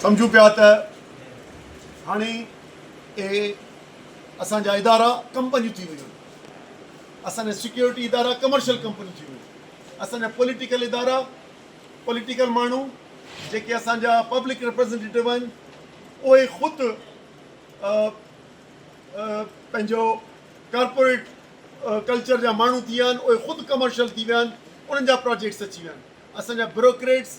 سمجهون پيا ته هاڻي اهي اسان جا ادارا ڪمپنيون ٿي ويون، اسان جا سيڪيورٽي ادارا ڪمرشل ڪمپنيون ٿي ويون، اسان جا پوليٽيڪل ادارا پوليٽيڪل ماڻهو جيڪي اسان جا پبلڪ ريپريزنٽيٽو آهن اهي خود پنهنجو ڪارپوريٽ ڪلچر جا ماڻهو ٿي ويا آهن اهي خود ڪمرشل ٿي ويا آهن انهن جا پراجيڪٽس اچي ويا آهن اسان جا بروڪريٽس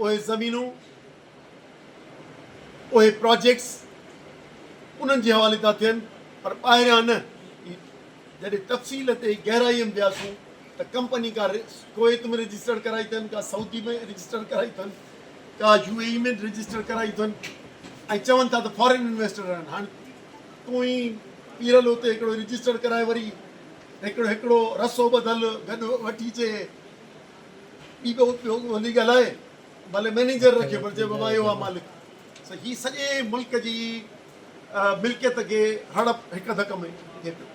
اهي زمينون، اهي پراجيڪٽس انهن جي حوالي ٿا ٿين پر ٻاهريان نه. جڏهن تفصيل تي گهرائيء ۾ وياسون ته ڪمپني ڪا ڪويت ۾ رجسٽرڊ ڪرائي اٿن، ڪا سعودي ۾ رجسٽرڊ ڪرائي اٿن، ڪا يو اي اي ۾ رجسٽرڊ ڪرائي اٿن ۽ چون ٿا ته فارين انويسٽر آهن. هاڻ تون ئي پيرل اتي هڪڙو رجسٽرڊ ڪرائي وري هڪڙو هڪڙو رسو ٻڌل گڏ وٺي چي. ٻي ٻه اتي هوڪ هوندي ڳالهائي مالي مئنيجر رکي پر چئبو مان اهو آ مالڪ سو هي سڄي ملڪ جي ملڪيت کي هڙپ هڪ ڌڪ ۾ ٿئي پئي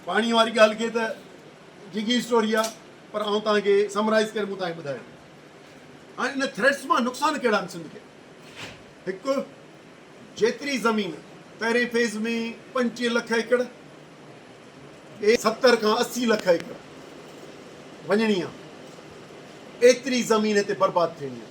پاڻي واري ڳالهه کي ته جگي اسٽوري آ پر آئون توهان کي سمرائز ڪري مون توهان کي ٻڌايو هاڻي ان ٿريٽس مان نقصان ڪهڙا آهن سنڌ کي هڪ جيتري زمين پهرين فيز ۾ پنجٽيهه لک ايڪڙ ۽ ستر کان اسي لک ايڪڙ وڃڻي آهي ايتري زمين هتي برباد ٿيڻي آهي.